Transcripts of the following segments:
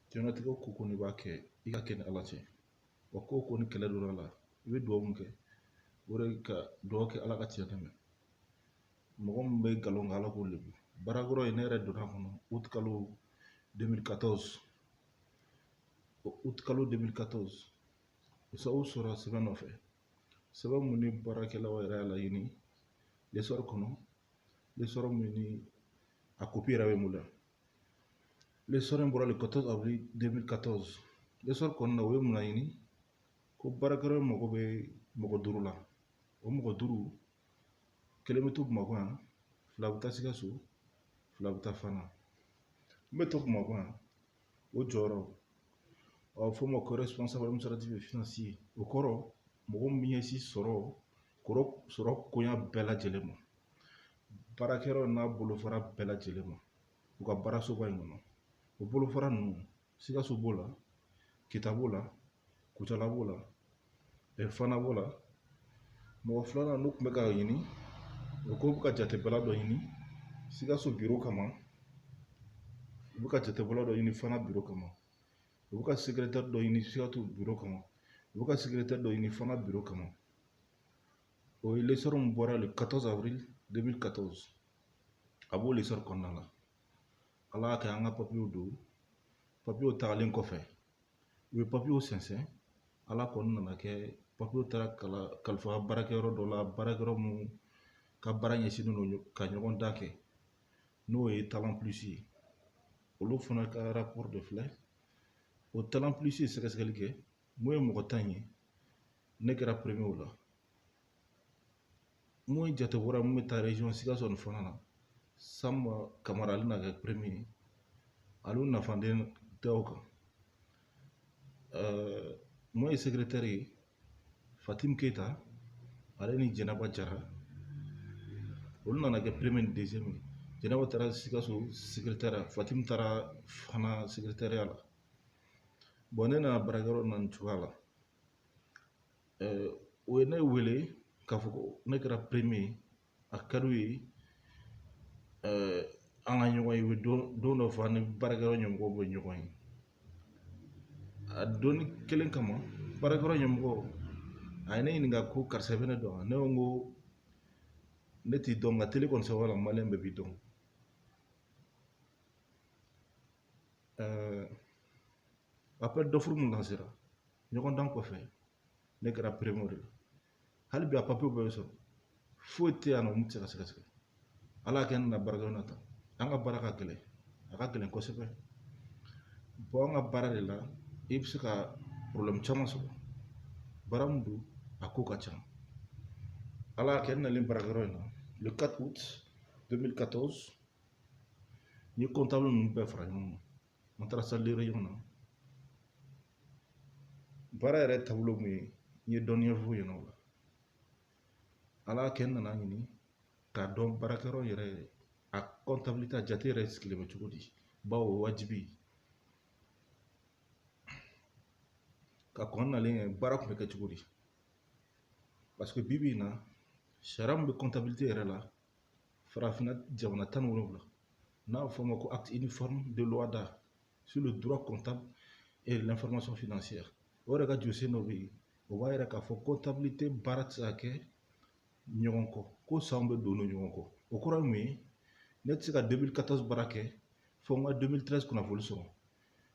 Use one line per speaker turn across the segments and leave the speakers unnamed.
Diɲɛlatigɛ ko o ko n'i b'a kɛ i k'a kɛ ni ala cɛ wa ko o ko ni kɛlɛ donna a la i bɛ dugawu min kɛ o de ka dugawu kɛ ala ka tiɲɛ dɛmɛ mɔgɔ min bɛ nkalon kan ala k'o lebu baarakɛyɔrɔ in ne yɛrɛ donna a kɔnɔ utikalo 2014 utikalo 2014 sababu sɔrɔla sɛbɛn nɔfɛ sɛbɛn min ni baarakɛlaw yɛrɛ y'a laɲini lesɔri kɔnɔ lesɔri min ni a kopi yɛrɛ bɛ n bolo yan lesɔri in bɔra le quatorze avril deux mille quatorze lesɔri kɔnɔna o ye mun laɲini ko baarakɛyɔrɔ mago bɛ mɔgɔ duuru la o mɔgɔ duuru kelen bɛ to bamakɔ yan fila bɛ taa sikaso fila bɛ taa fana min bɛ to bamakɔ yan o jɔyɔrɔ a bɛ fɔ o ma ko responsable administratif et financier o kɔrɔ mɔgɔ min bɛ ɲɛsin sɔrɔ sɔrɔ koɲa bɛɛ lajɛlen ma baarakɛyɔrɔ n'a bolofara bɛɛ lajɛlen ma u ka baarasoba in kɔnɔ o bolofara ninnu sikaso b'o la kita b'o la kucala b'o la fana b'o la mɔgɔ filanan n'u tun bɛ ka ɲini u ko u bɛ ka jatebɔla dɔ ɲini sikaso biro kama u bɛ ka jatebɔla dɔ ɲini fana biro kama u bɛ ka sekiretɛri dɔ ɲini sikaso biro kama u bɛ ka sekiretɛri dɔ ɲini fana biro kama o ye lesɔri min bɔra le 14 avril 2014 a b'o lesɔri kɔnɔna la ala y'a kɛ an ka papiyew don papiyew tagalen kɔfɛ u ye papiyew sɛnsɛn ala kɔni nana a kɛ papiyew taara kalifa baarakɛyɔrɔ dɔ la baarakɛyɔrɔ min ka baara ɲɛsinnen don ka ɲɔgɔndan kɛ n'o ye Talent Plus ye olu fana ka rapɔri de filɛ o Talent Plus ye sɛgɛsɛgɛli kɛ min ye mɔgɔ tan ye ne kɛra premier o la min ye jatebɔla min bɛ taa région sikaso ni fana na sanba kamara ale na kɛ premier ye ale nafa den tɛ o kan min ye sekiretɛri ye fatimi keyita ale ni jɛnɛba jara olu nana kɛ premier ni deuxième ye jɛnɛba taara sikaso fatimi taara fana sekiretɛriya la bon ne nana baarakɛyɔrɔ na nin cogoya la u ye ne wele k'a fɔ ko ne kɛra premier ye a ka d'u ye an ka ɲɔgɔn ye u bɛ don dɔ fɔ an ni baarakɛyɔrɔ ɲɛmɔgɔw bɛ ɲɔgɔn ye a donni kelen kama baarakɛyɔrɔ ɲɛmɔgɔ a ye ne ɲininka ko karisa i bɛ ne dɔn wa ne ko n ko ne t'i dɔn nka tele kɔni sababu la maliyɛn bɛɛ b'i dɔn appel d'offre min lansera ɲɔgɔndan kɔfɛ ne kɛra premier de la hali bi a papiyew bɛɛ bɛ sɔrɔ foyi tɛ yan nɔ mun tɛ se ka sɛgɛsɛgɛ ala y'a kɛ ne nana baarakɛyɔrɔ na tan an ka baara ka gɛlɛn a ka gɛlɛn kosɛbɛ bon an ka baara de la i bɛ se ka problème caman sɔrɔ baara min don a ko ka ca ala y'a kɛ n nalen baarakɛyɔrɔ in na le 4 août 2014 n ye comptable ninnu bɛɛ fara ɲɔgɔn kan an taara salle de réunion na baara yɛrɛ taabolo mun ye n ye dɔnniya f'u ɲɛna o la ala y'a kɛ n nana ɲini k'a dɔn baarakɛyɔrɔ yɛrɛ a comptabilité a jate yɛrɛ sigilen bɛ cogo di bawo o wajibi ka kɔn n nali ɲɛ baara kun bɛ kɛ cogo di parce que bi bi in na sariya min bɛ comptabilité yɛrɛ la farafinna jamana tan ni wolonwula n'a bɛ fɔ o ma ko acte uniforme de l'OHADA sur le droit comptable et l'information financière o yɛrɛ ka jɔsen dɔ bɛ yen o b'a yira k'a fɔ comptabilité baara tɛ se ka kɛ ɲɔgɔn kɔ ko sanw bɛ don ɲɔgɔn kɔ o kɔrɔ ye mun ye ne tɛ se ka 2014 baara kɛ fo n ka 2013 kunnafoni sɔrɔ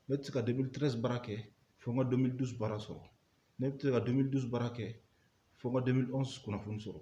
ne tɛ se ka 2013 baara kɛ fo n ka 2012 baara sɔrɔ ne tɛ se ka 2012 baara kɛ fo n ka 2011 kunnafoni sɔrɔ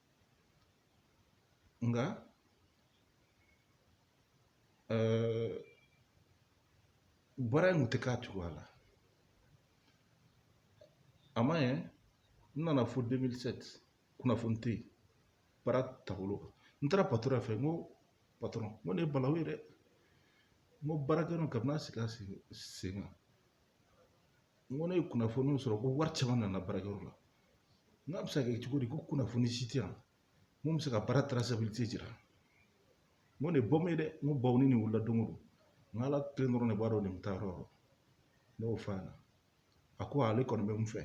nka eh, baara in kun tɛ k'a cogoya la a ma ɲɛ n nana fo 2007 kunnafoni tɛ yen baara taabolo kan n taara patɔrɔn fɛ n ko patɔrɔn n ko nin ye balawu ye dɛ n ko baarakɛyɔrɔ in kabini a sigi a sen kan n ko ne ye kunnafoniw sɔrɔ ko wari caman nana baarakɛyɔrɔ la n k'a bɛ se ka kɛ cogo di ko kunnafoni si tɛ yan mun bɛ se ka baara traçabilité jira n ko nin ye bɔmu ye dɛ n ko bawo ni nin wulila don o don n ko ala kelen dɔrɔn de b'a dɔn nin bɛ taa yɔrɔ o yɔrɔ ne y'o f'a ɲɛna a ko ale kɔni bɛ mun fɛ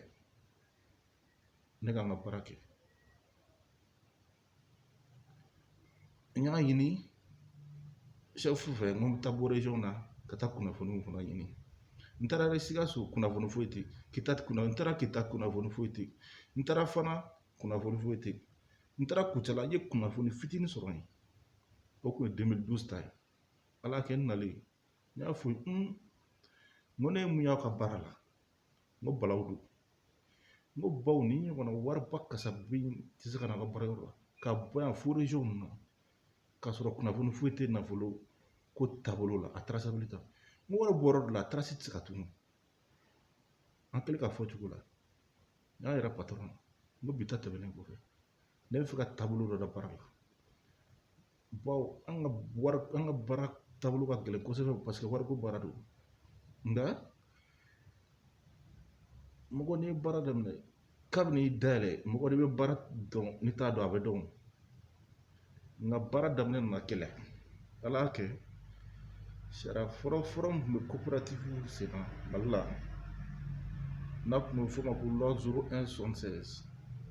ne ka n ka baara kɛ n y'a ɲini chef fɛ n ko n bɛ taa bɔ région na ka taa kunnafoniw fana ɲini n taara sikaso kunnafoni foyi tɛ n taara kita kunnafoni foyi tɛ n taara fana kunnafoni foyi tɛ n taara kucala n ye kunnafoni fitinin sɔrɔ yen o kun ye 2012 ta ye ala y'a kɛ n nalen n y'a fɔ n ko ne ye mun y'aw ka baara la n ko balawu don n ko bawo nin ɲɔgɔnna wariba kasabi tɛ se ka na a ka baarayɔrɔ la ka bɔ yan fo région ninnu na k'a sɔrɔ kunnafoni foyi tɛ nafolo ko taabolo la a traçabilité n ko wari bɔ yɔrɔ dɔ la a trace tɛ se ka tunu an kɛlen k'a fɔ cogo la n y'a yira patɔrɔn na n ko bi ta tɛmɛnen kɔfɛ ne bɛ fɛ ka taabolo dɔ da baara la bawo an ka wari an ka baara taabolo ka gɛlɛn kosɛbɛ paseke wariko baara don nka mɔgɔ n'i ye baara daminɛ kabini i dayɛlɛ mɔgɔ de bɛ baara dɔn n'i t'a dɔn a bɛ dɔn nka baara daminɛ nana gɛlɛya ala y'a kɛ sariya fɔlɔ fɔlɔ min tun bɛ coopérative sen na mali la n'a tun bɛ f'o ma ko loi zero un soixante seize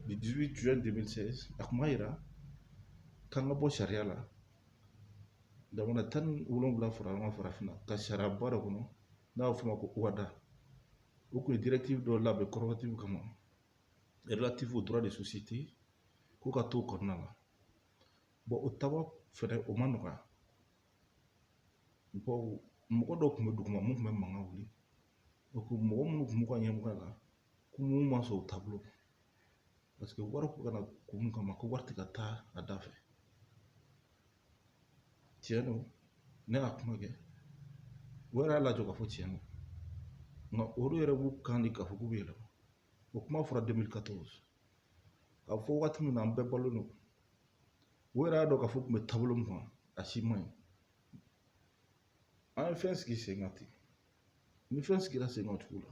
du dix huit juin deux mille seize a tun b'a yira k'an ka bɔ sariya la jamana tan ni wolonwula fara ɲɔgɔn kan farafinna ka sariyaba dɔ kɔnɔ n'a bɛ f'o ma ko ohada o tun ye directive dɔ labɛn coopérative kama relative au droit des sociétés ko ka t'o kɔnɔna la bɔn o taba fɛnɛ o ma nɔgɔya bawo mɔgɔ dɔw tun bɛ duguma mun tun bɛ mankan wuli o ko mɔgɔ minnu tun b'u ka ɲɛmɔgɔya la kun ma sɔn o taabolo paseke wari ko kana kun mun kama ko wari tɛ ka taa a da fɛ tiɲɛ don ne y'a kuma kɛ o yɛrɛ y'a lajɔ k'a fɔ tiɲɛ don nka olu yɛrɛ b'u kan di k'a fɔ k'u bɛ yɛlɛma o kuma fɔra 2014 k'a fɔ waati min na an bɛɛ balo don o yɛrɛ y'a dɔn k'a fɔ tun bɛ taabolo min kan a si man ɲi an ye fɛn sigi sen kan ten ni fɛn sigira sen kan cogo la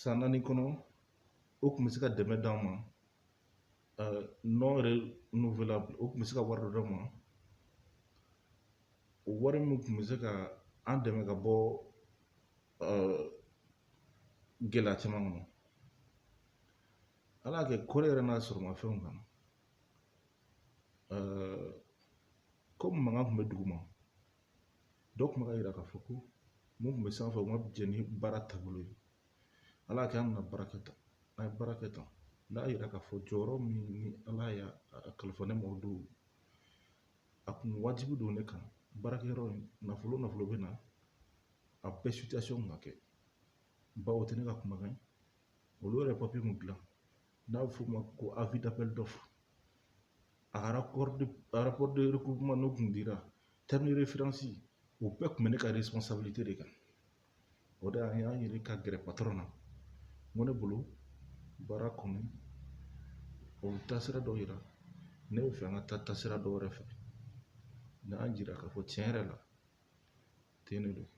san naani kɔnɔ o tun bɛ se ka dɛmɛ d'an ma non renouvelable o tun bɛ se ka wari dɔ d'an ma o wari min tun bɛ se ka an dɛmɛ ka bɔ gɛlɛya caman kɔnɔ ala y'a kɛ kɔrɔ yɛrɛ n'a sɔrɔ ma fɛnw kan komi mankan tun bɛ duguma dɔ kun bɛ k'a yira k'a fɔ ko mun kun bɛ sanfɛ o ma jɛn ni baara taabolo ye ala y'a kɛ an nana baara kɛ tan an ye baara kɛ tan n'a yira k'a fɔ jɔyɔrɔ min ni ala y'a kalifa ne ma o don a kun wajibi don ne kan baarakɛyɔrɔ in nafolo nafolo bɛ na a bɛɛ sitiyasɔn kun ka kɛ bawo o tɛ ne ka kumakan ye olu yɛrɛ papiye mun dilan n'a bɛ f'o ma ko avis d'appel d'offre a ka rapport de recouvrement n'o tun dira terme de référence u bɛɛ tun bɛ ne ka responsabilité de kan o de an y'an yɛrɛ ka gɛrɛ patɔrɔn na n ko ne bolo baara kɔnɔ o taasira dɔ yira ne bɛ fɛ an ka taa taasira dɔ wɛrɛ fɛ n y'a jira k'a fɔ tiɲɛ yɛrɛ la ten de don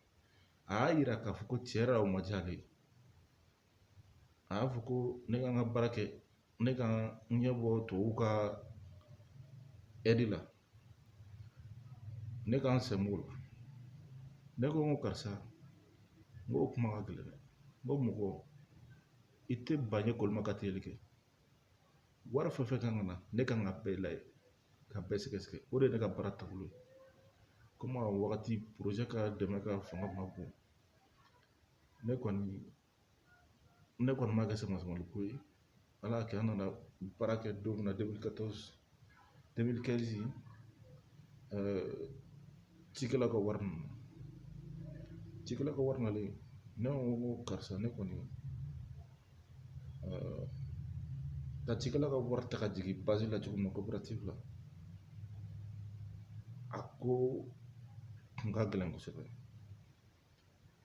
a y'a yira k'a fɔ ko tiɲɛ yɛrɛ la o ma diya ale ye a y'a fɔ ko ne ka n ka baara kɛ ne ka n ɲɛ bɔ tubabuw ka aide la ne ka n sen b'o la ne ko n ko karisa n ko o kuma ka gɛlɛn dɛ n ko mɔgɔ i tɛ ba ɲɛ kolima ka teli kɛ wari fɛn fɛn kan ka na ne kan ka bɛɛ lajɛ ka bɛɛ sɛgɛsɛgɛ o de ye ne ka baara taabolo ye komi a wagati projet ka dɛmɛ ka fanga ma bon ne kɔni ne kɔni ma kɛ senmasumali ko ye ala y'a kɛ an nana baara kɛ don min na deux mille quatorze deux mille quinze cikɛlaw ka wari nana cikɛlaw ka wari nalen ne ko ko karisa ne kɔni ka cikɛlaw ka wari ta ka jigin bazi la cogo min na kɔperatifu la a ko kun ka gɛlɛn kosɛbɛ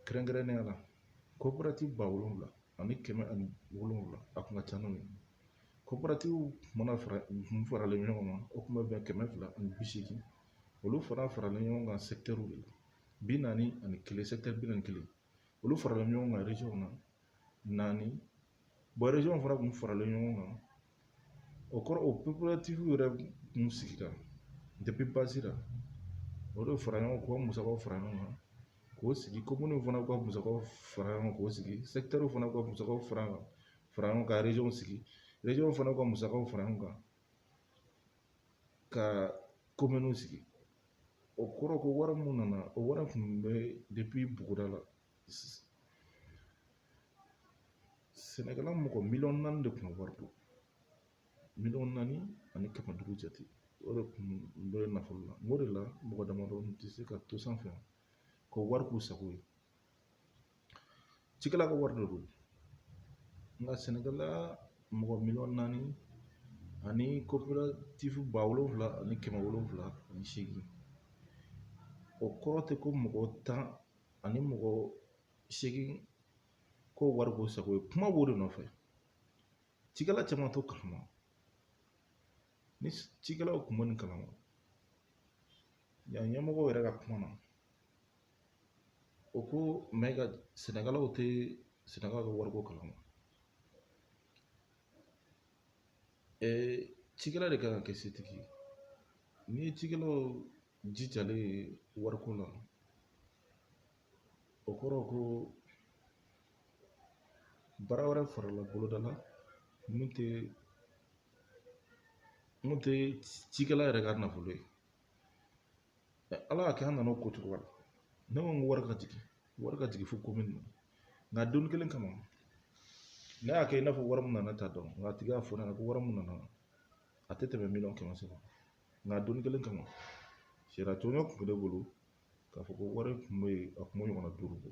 kɛrɛnkɛrɛnnenya la kɔperati ba wolonwula ani kɛmɛ ani wolonwula a kun ka ca n'o ye kɔperatiw mana fara kun faralen ɲɔgɔn kan o kun bɛ bɛn kɛmɛ fila ani bi seegin olu fana faralen ɲɔgɔn kan sɛkitɛriw de la bi naani ani kelen sɛkitɛri bi naani kelen olu faralen ɲɔgɔn kan région na naani bon région fana kun faralen ɲɔgɔn kan o kɔrɔ o kɔperatiw yɛrɛ kun sigira depuis bazi la o de fara ɲɔgɔn kan k'o musakaw fara ɲɔgɔn kan k'o sigi komini fana ka musakaw fara ɲɔgɔn kan k'o sigi sɛkitɛri fana ka musakaw fara ɲɔgɔn kan région sigi région fana ka musakaw fara ɲɔgɔn kan ka kominiw sigi o kɔrɔ ko wari min nana o wari kun bɛ depuis buguda la sɛnɛkɛla mɔgɔ miliyɔn naani de kun ka wari don miliyɔn naani ani kɛmɛ duuru jate o de kun bɛ nafolo la n k'o de la mɔgɔ damadɔ tɛ se ka to sanfɛ ka wari k'u sago ye cikɛla ka wari de don nka sɛnɛkɛla mɔgɔ miliyɔn naani ani kɔperatifu ba wolonfila ani kɛmɛ wolonfila ani seegin o kɔrɔ tɛ ko mɔgɔ tan ani mɔgɔ seegin k'o wari k'u sago ye kuma b'o de nɔfɛ cikɛla caman t'o kalama ni cikɛlaw kun bɛ nin kalama yan ɲɛmɔgɔw yɛrɛ ka kuma na o ko mɛn nka sɛnɛkɛlaw tɛ sɛnɛkɛlaw ka wariko kalama cikɛla de kan ka kɛ setigi ye n'i ye cikɛlaw jijalen wariko la o kɔrɔ ko baara wɛrɛ farala boloda la min tɛ min tɛ cikɛla yɛrɛ ka nafolo ye ala y'a kɛ an nana o ko cogo la ne ko n ko wari ka jigin wari ka jigin fo komini na nka don kelen kama ne y'a kɛ i n'a fɔ wari min nana t'a dɔn nka a tigi y'a fɔ ne ɲɛna ko wari min nana a tɛ tɛmɛ miliyɔn kɛmɛ saba nka don kelen kama sariya tɔnɲɔ kun bɛ ne bolo k'a fɔ ko wari kun bɛ yen a kun bɛ ɲɔgɔnna duuru bɔ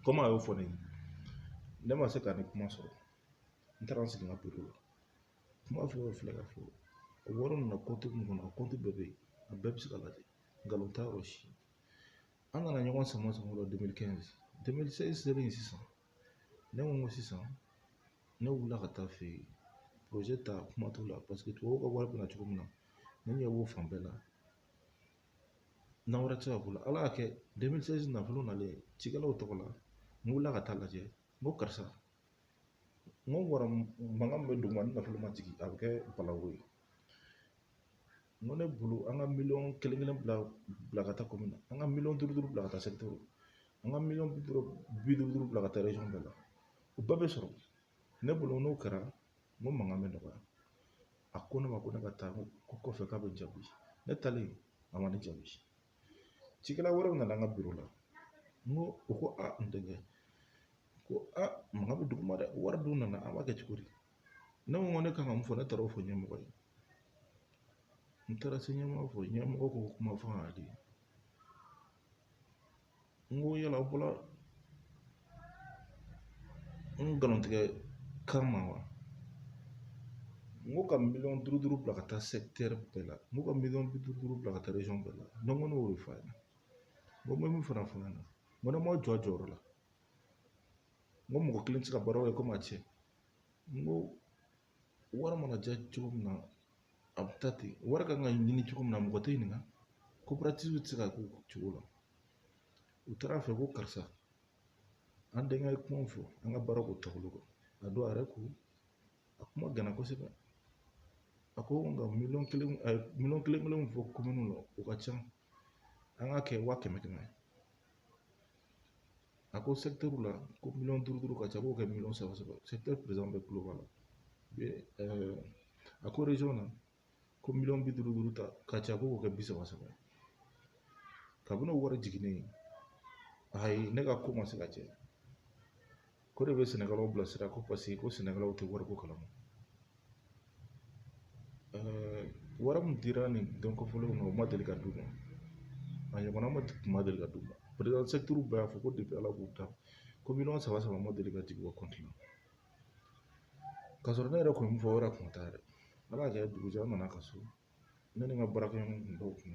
komi a y'o fɔ ne ye ne ma se ka nin kuma sɔrɔ n taara n sigi n ka biro la kuma fɛn o filɛ k'a fɔ o wari nana kɔnti min kɔnɔ a kɔnti bɛɛ bɛ yen a bɛɛ bɛ se ka lajɛ nkalon t'a yɔrɔ si an nana ɲɔgɔn sama sama o la deux mille quinze deux mille seize selen sisan ne ko n ko sisan ne wulila ka taa a fɛ yen porozɛ ta kuma t'o la paseke tubabuw ka wari bɛ na cogo min na ne ɲɛ b'o fan bɛɛ la nanbara tɛ se ka k'o la ala y'a kɛ deux mille seize nafolo nalen cikɛlaw tɔgɔ la n wulila ka taa lajɛ n ko karisa n ko wari mankan min bɛ duguma ni nafolo ma jigin a bɛ kɛ balawu ye n ko ne bolo an ka miliyɔn kelen kelen bila bila ka taa komini na an ka miliyɔn duuru duuru bila ka taa sɛkitɛri an ka miliyɔn bi duuru bi duuru duuru bila ka taa rezɔn bɛɛ la o bɛɛ bɛ sɔrɔ ne bolo n'o kɛra n ko mankan bɛ nɔgɔya a ko ne ma ko ne ka taa ko kɔfɛ k'a bɛ jaabi ne taalen a ma ne jaabi cikɛla wɛrɛw nana an ka biro la n ko o ko an denkɛ ko a mankan bɛ duguma dɛ wari dun nana an b'a kɛ cogo di ne ko n ko ne kan ka mun fɔ ne taara o fɔ ɲɛmɔgɔ ye n taara se ɲɛmɔgɔ fɔ ɲɛmɔgɔ ko kuma fɔ ka di n ko yala aw bɔla nkalontigɛ kama wa n ko ka miliyɔn duuru duuru bila ka taa sɛkitɛri bɛɛ la n ko ka miliyɔn bi duuru duuru bila ka taa rezɔn bɛɛ la ne ko ne y'o de fɔ a ɲɛna n ko n bɛ min fana fɔ a ɲɛna n ko ne m'aw jɔ a jɔyɔrɔ la n ko mɔgɔ kelen tɛ se ka baara kɛ komi a cɛ N ko wari mana diya cogo min na a bɛ taa ten wari kan ka ɲini cogo min na mɔgɔ t'i ɲininka koperatiw tɛ se ka k'o cogo la u taara a fɛ ko karisa an denkɛ ye kuma fɔ an ka baara ko taabolo kan a don a yɛrɛ ko a kuma ganna kosɛbɛ a ko nka miliyɔn kelen a ye miliyɔn kelen kelenw fɔ kominiw la o ka ca an k'a kɛ wa kɛmɛ kɛmɛ a ko sɛkitɛriw la ko miliyɔn duuru duuru ka ca k'o kɛ miliyɔn saba saba sɛkitɛri perezidan bɛɛ kulo b'a la a ko rezɔn na ko miliyɔn bi duuru duuru ta ka ca k'o kɛ bi saba saba ye kabini o wari jiginnen ayi ne ka ko ma se ka cɛ ko de bɛ sɛnɛkɛlaw bilasira ko paseke ko sɛnɛkɛlaw tɛ wariko kalama wari min dira nin don kofɔlenw ma o ma deli ka d'u ma a ɲɔgɔnna ma tun ma deli ka d'u ma perezidan sɛkitɛri bɛɛ y'a fɔ ko depi ala k'u dan ko miliyɔn saba saba ma deli ka jigin u ka kɔnti la k'a sɔrɔ ne yɛrɛ kun ye min fɔ o yɛrɛ kun t'a yɛrɛ ala y'a kɛ dugujɛ an nana ka so ne ni n ka baarakɛɲɔgɔn kun dɔw kun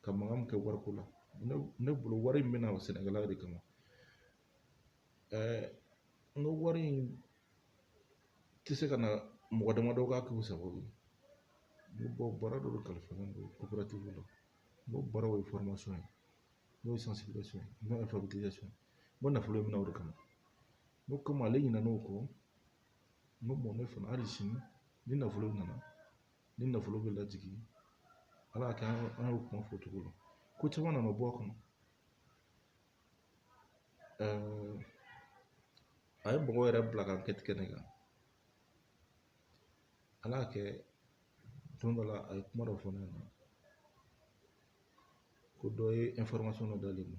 ka mankan min kɛ wariko la ne bolo wari in bɛna sɛnɛkɛla de kama n ko wari in tɛ se ka na mɔgɔ damadɔ k'a k'u sago ye n ko baara dɔ de kalifalen don coopérative la n ko baaraw ye formation ye n'o ye sensibilisation ye n'o ye alphabétisation ye n ko nafolo bɛ na o de kama n ko komi ale ɲinɛna o kɔ n ko ne fana hali sini ni nafolo nana ni nafolo bɛ lajigin ala y'a kɛ an y'o kuma fɔ cogo la ko caman nana bɔ a kɔnɔ a ye mɔgɔw yɛrɛ bila ka enquête kɛ ne kan ala y'a kɛ don dɔ la a ye kuma dɔ fɔ ne ɲɛna ko dɔ ye information dɔ d'ale ma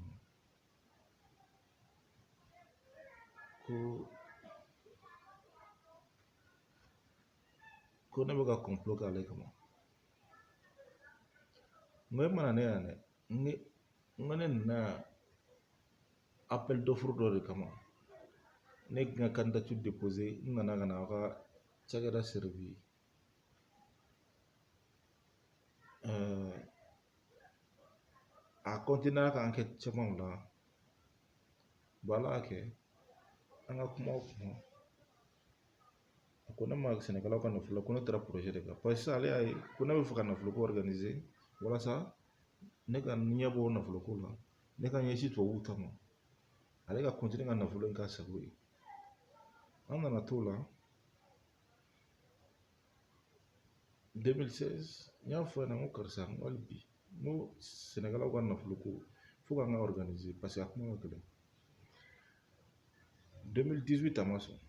ko ko ne bɛ ka kɔnpulo k'ale kama n ko e ma na ne yan dɛ n ko n ko ne nana yan apɛli dɔfuru dɔ de kama ne ka n ka kandidatiri depoze n nana ka na aw ka cakɛda sɛriwi a kɔntiniyera ka ankɛti camanw la ala y'a kɛ an ka kuma o kuma a ko ne ma sɛnɛkɛlaw ka nafolo ko ne taara projet de kan paseke sisan ale y'a ye ko ne bɛ fɛ ka nafolo ko organiser walasa ne ka ɲɛ bɔ nafolo ko la ne ka ɲɛsin tubabuw ta ma ale ka continuer ka nafolo in k'a sago ye an nana t'o la 2016 n y'a fɔ a ɲɛna n ko karisa n ko hali bi n ko sɛnɛkɛlaw ka nafolo ko fo k'an k'a organiser parce que a kuma ka gɛlɛn 2018 a ma sɔn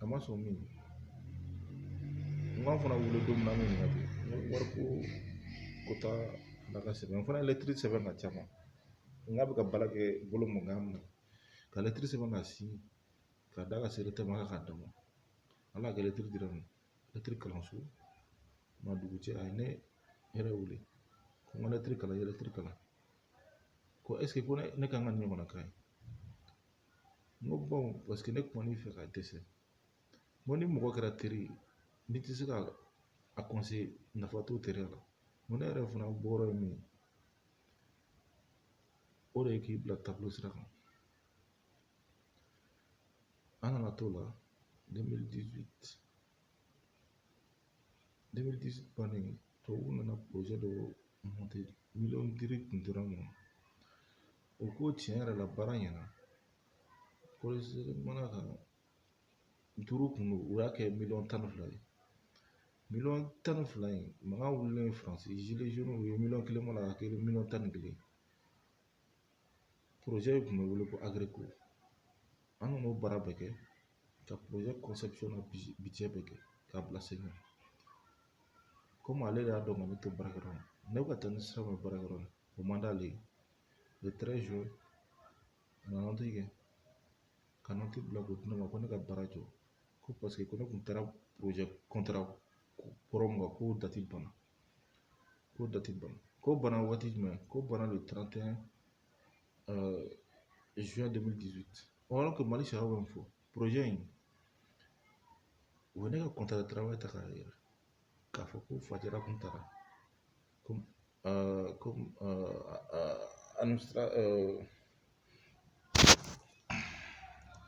a ma sɔn min n k'a fana wele don min na an bɛ ɲininka n ko wari ko ko taa ala ka sɛbɛn n fana ye lɛtiri sɛbɛn k'a ci a ma n k'a bɛ ka baara kɛ bolo min kan min ne ka lɛtiri sɛbɛn k'a siɲe k'a d'a ka sekeretɛri ma k'a d'a ma ala y'a kɛ lɛtiri dir'a ma lɛtiri kalan sɔgɔma dugujɛ a ye ne yɛrɛ wele ko n ka lɛtiri kalan n ye lɛtiri kalan ko ɛseke ko ne kan ka nin ɲɔgɔnna k'a ye n ko baw paseke ne kuman'i fɛ ka dɛsɛ n ko ni mɔgɔ kɛra teri ye n'i tɛ se ka a conseiller nafa t'o teriya la n ko ne yɛrɛ fana bɔyɔrɔ ye min ye o de ye k'i bila taabolo sira kan an nana t'o la 2018 2018 bannen tubabuw nana projet dɔ monter miliyɔn duuru kun dira n ma o ko tiɲɛ yɛrɛ la baara ɲɛna kɔlɔsili mana ka duuru kun don u y'a kɛ miliyɔn tan ni fila ye miliyɔn tan ni fila in mankan wulilen faransi gilets jaunes u ye miliyɔn kelen bɔ a la k'a kɛ miliyɔn tan ni kelen in kun bɛ wele ko agreko an nana o baara bɛɛ kɛ ka projet conception n'a budget bɛɛ kɛ k'a bila sen kan komi ale de y'a dɔn k'ale tɛ baara kɔnɔ ne bɛ ka taa ni sira min ye baara yɔrɔ la o man d'ale ye le 13 juin a nana nɔti kɛ ka nɔti bila k'o di ne ma ko ne ka baara jɔ ko paseke ko ne kun taara projet contrat kɔrɔ min kan k'o dati banna ko dɔ tɛ ban ko bana waati jumɛn ko bana de taratɛn zuwa de bi o yɔrɔ ko mali sariya bɛ min fɔ in u ye ne ka kɔntara tarawele ta k'a yira k'a fɔ ko fajara kun taara ko ko an